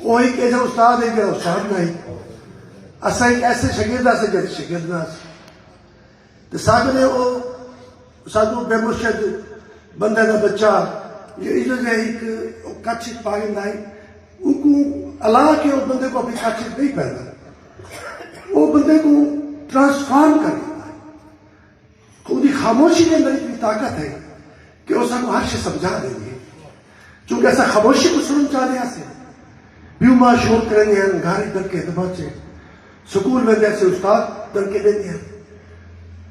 او ہک ایجھا استاد ہئی جیڑھا استاد نہ ہئی۔ اساں ہک ایسے شاگرد آسے جیڑھا شاگرد نہ آسے۔ تے ساکوں نے او ساکوں بے مرشد بندے دا بچہ جو ایجھا جیہا ہک او کچھ اچ پا گھندا ہئی۔ اوکوں الا کے او بندے کوں اپنی کچھ اچ نہیں پیندا۔ او بندے کوں ٹرانسفارم کر گھندا ہئی۔ اوندی خاموشی دے اندر اتنی طاقت ہے کہ او سانوں ہر شے سمجھا دیندی ہے۔ چونکہ اساں خاموشی کوں سݨݨ چاہندے ہاسے۔ پیو ماء شور کریندے ہن، گھر اچ دڑکے تے بچ اے۔ سکول ویندے ہاسے استاد دڑکے ݙیندے ہن۔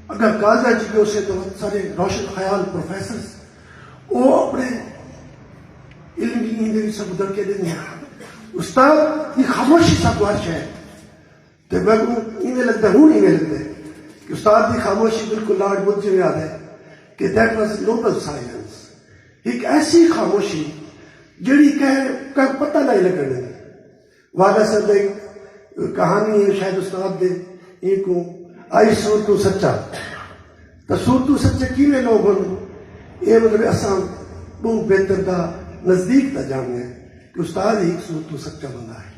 اگر کالجاں اچ وی ہوسے تاں وت سارے روشن خیال پروفیسرز او اپݨے علم دی نیں دے وچ سانکوں دڑکے ݙیندے ہن۔ استاد دی خاموشی سانکوں ہر شے۔ تے میکوں ایویں لگدا ہن ایویں لگدے کہ استاد دی خاموشی بالکل لاڈ بدھ جیویں آدھے کہ دیٹ واز نوبل سائلنس ہک ایسی خاموشی جیڑھی کہیں کہیں پتہ نہ لگن دیندی والا سر دے کہانی ہے شاید استاد دے ان کو آئی سور تو سچا تو سور تو سچے کی میں لوگ ہوں یہ مطلب اساں بہت بہتر دا نزدیک دا جاننے کہ استاد ہی ایک سور تو سچا بندہ ہے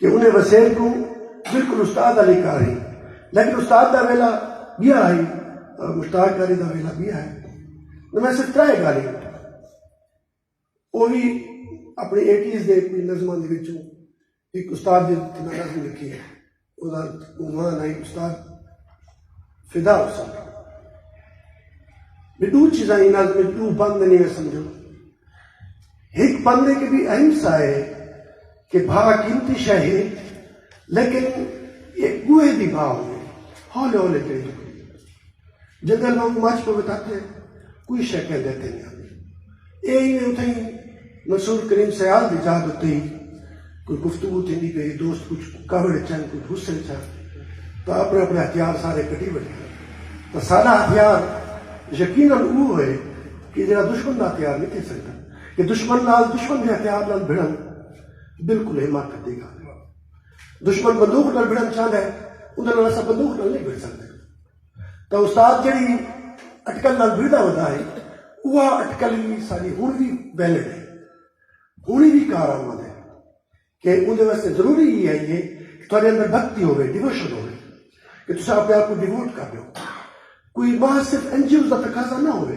کہ انہیں وسیم کوں بالکل استاد آلی کار ہی لیکن استاد دا ویلا بیا ہی اور مشتاق کاری دا ویلا بیا ہے تو میں صرف ترائے گا نہیں وہ بھی اپنے ایٹیز دے کوئی نظمہ دے بچوں ایک استاد دے تنہا نظم لکھی ہے وہ دا عنوان ہے استاد فدا ہوسن۔ میں ڈو چیزاں انہاں وچ میں ڈو بند نہیں میں سمجھوں۔ ہک بند ہے کہ بھی اہم سا ہے کہ بھا قیمتی شے ہے لیکن یہ گوہے دی بھا ہوے ہولے ہولے چلی جاندی جنگل وانگوں مچ پوے تاکہ کوئی شے کہندے تھے نہیں آندی۔ اے ہی میں اتھائیں منصور کریم سیال دی ذات اتے ہی کوئی گفتگو تھیندی پئی ہی دوست کچھ کاوڑ اچ ہن کچھ غصے اچ ہن تاں اپنے اپنے ہتھیار سارے کڈھی وٹھے تاں ساڈا ہتھیار یقینا اوہ ہوئے کہ جیڑھا دشمن دا ہتھیار نی تھی سگدا کہ دشمن نال دشمن دے ہتھیار نال بھڑن بالکل حماقت دی گالھ ہے دشمن بندوق نال بھڑن چاہندا ہے اوندا نال اساں بندوق نال نی بھڑ سگدے تو استاد جڑی اٹکل نال بھردا ہوتا ہے وہ اٹکل ہی ساری ہن بھی ویلے ہے ہن بھی کار آمد ہے کہ ان دے واسطے ضروری ہی ہے یہ کہ تھوڑے اندر بھکتی ہوئے ڈیووشن ہوئے کہ تسا اپنے آپ کو ڈیووٹ کر دو کوئی ماہ صرف این جی اوز کا تقاضا نہ ہوئے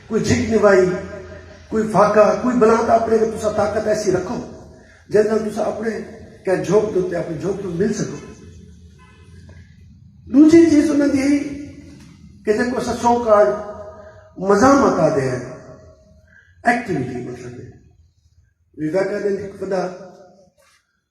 کوئی جھک نوائی، کوئی فاقہ، کوئی بلاں دا اپݨے تے تساں طاقت ایسی رکھو جیندے نال تساں اپݨے کہیں جھوک دے اتے اپݨی جھوک توں مل سڳو۔ ݙوجھی چیز انہاں دی ہئی کہ جیکوں اساں سو کال مزاحمت آہدے ہیں، ایکٹیویٹی مطلب ہے، ویویکانند ہک وݙا۔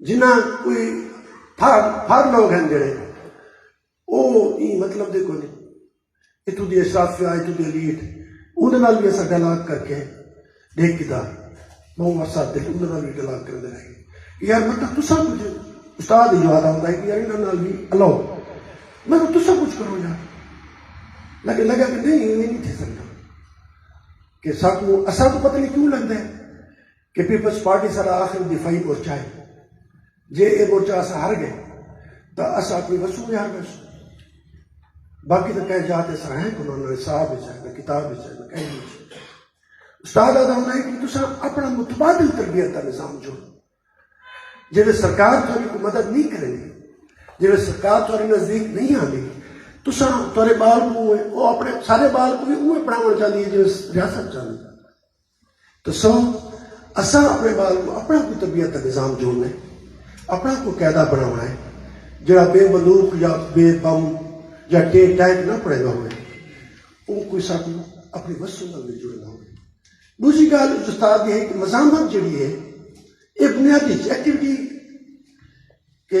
جنہاں کوئی پھر پھر لوگ ہیں جڑے او ایں مطلب دے کوئی اتو دی اشرافیہ اتو دی الیٹ اون دے نال بھی اسا ڈائلاگ کر کے دیکھ کیتا بہو ورسا دل اون دے نال بھی ڈائلاگ کر دے رہے کہ یار مطلب تسا کچھ استاد جو آتا ہوتا ہے کہ یار انہاں نال بھی الاؤ مطلب تسا کچھ کرو یار لیکن لگا کہ نہیں یہ نہیں تھی سکتا کہ سب کو اسا تو پتہ نہیں کیوں لگتا ہے کہ پیپلز پارٹی ساڈا آخری دفاعی مورچہ ہے، جے اے مورچہ اساں ہار گئے تاں اساں اپنی وسوں وی ہار ویسوں، باقی تاں کہیں جاہ تے اساں ہیں کوناں، نہ نصاب وچ ہے، نہ کتاب وچ ہے، نہ کہیں وچ ہے۔ استاد آہدا ہوندا ہئی کہ تساں اپنا متبادل تربیت دا نظام جوڑو، جیویں سرکار تہاڈی کوئی مدد نی کریندی، جیویں سرکار تہاڈے نزدیک نی آندی، تساں تہاڈے بال کوں اوہ اپنے سارے بال کوں وی اوویں پڑھاوݨ چاہندی ہے جیویں ریاست چاہندی ہے۔ تساں اساں اپݨے ٻال کوں اپݨا کوئی طبیعت دا نظام جوڑݨا ہے، اپݨا کوئی قاعدہ بݨاوݨا ہے جیڑھا بے ملوخ یا بے بم یا ٹے ٹیک نہ پڑھیندا ہووے، اوں کوئی ساکوں اپݨی وسوں نال مل جڑیندا ہووے۔ ݙوجھی ڳالھ اچ استاد دی ہے کہ مزاحمت جیڑھی ہے ایہ بنیادی اچ ایکٹیوٹی ہے کہ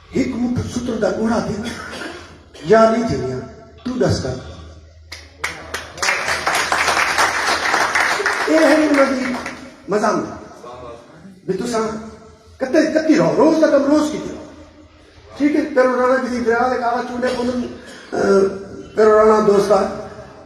ہک مٹھ سٹݨ دا ڳناہ تھی ویندے یا نئیں تھیندیاں توں ݙس کر اے ہن انہاں دی مزاحمت بھی تساں کتے کتی رہو روز دا کم روز کیتے رہو ٹھیک ہے پیرو رانا جی دی دریا دے کاغذ چونڈے پوندن پیرو رانا دوستا